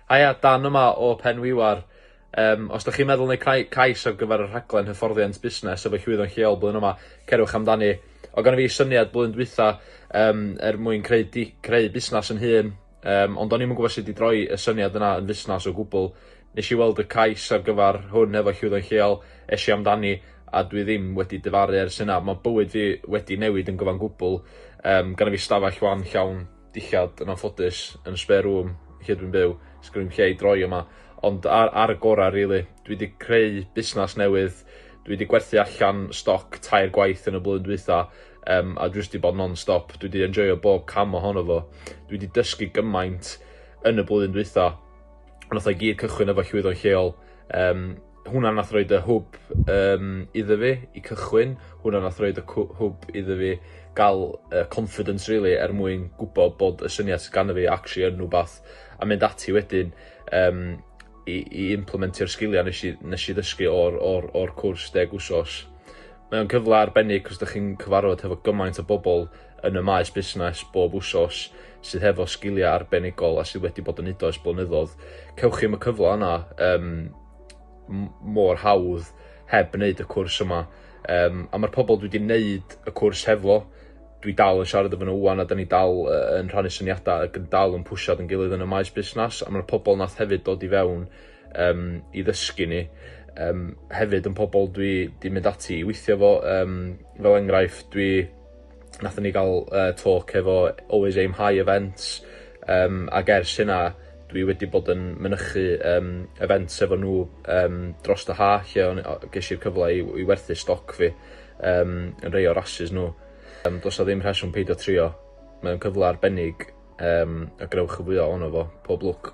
Haia, Dan yma o Penwiwar. Yym, os 'da chi'n meddwl neu' cnau- cais ar gyfer y rhaglen hyfforddiant busnes efo llwyddon lleol blwyddyn yma, cerwch amdani. O' gynno fi syniad blwyddyn dwytha yym er mwyn creu di- creu busnas 'yn hun, yym ond o'n i'm yn gwbo sud i droi y syniad yna yn fusnas o gwbwl. Nes i weld y cais ar gyfar hwn efo Llwyddon Lleol, es i amdani a dwi ddim wedi difaru ers hynna. Mae bywyd fi wedi newid yn gyfan gwbl. Yym, gynna fi stafell wan llawn dillad yn anffodus yn y spare room lle dwi'n byw, sgynna i'm lle i droi yma, ond ar, ar y gorau rili. Dwi wedi creu busnes newydd, dwi wedi gwerthu allan stoc tair gwaith yn y blwyddyn dwytha, um, a dwi wedi bod non-stop, dwi wedi enjoyo bob cam ohono fo. Dwi wedi dysgu gymaint yn y blwyddyn dwytha. Ond nath o i gyd cychwyn efo llwyddo lleol. Um, hwnna nath roed y hwb um, iddo fi i cychwyn. Hwnna nath roed y hwb iddo fi gael uh, confidence really er mwyn gwybod bod y syniad sydd gan fi actually yn rhywbeth a mynd ati wedyn um, i, i implementio'r sgiliau nes i, nes i ddysgu o'r, or, or cwrs deg wsos. Mae'n cyfle arbennig cos ydych chi'n cyfarfod hefo gymaint o bobl yn y maes busnes bob wsos sydd hefo sgiliau arbenigol a sydd wedi bod yn neud o ers blynyddoedd, cewch chi ddim y cyfle yna um, mor hawdd heb wneud y cwrs yma. Um, a mae'r pobl dwi wedi wneud y cwrs hefo, dwi dal yn siarad efo nhw wan a da ni dal uh, yn rhannu syniadau ac yn dal yn pwysad yn gilydd yn y maes busnes a mae'r pobl nath hefyd dod i fewn um, i ddysgu ni um, hefyd yn pobl dwi di mynd ati i weithio fo um, fel enghraifft dwi Nathon ni ga'l yy talk efo Always Aim High Events yym ag ers hynna dwi wedi bod yn mynychu yym events efo nhw yym drost y ha' lle o'n o- gesh i'r cyfle i w- i werthu stoc fi yym yn rei o rasys nhw. Yym do's 'a ddim rheswm peidio trio. Mae o'n cyfle arbennig yym a gwnewch yn fwya ono fo. Pob lwc.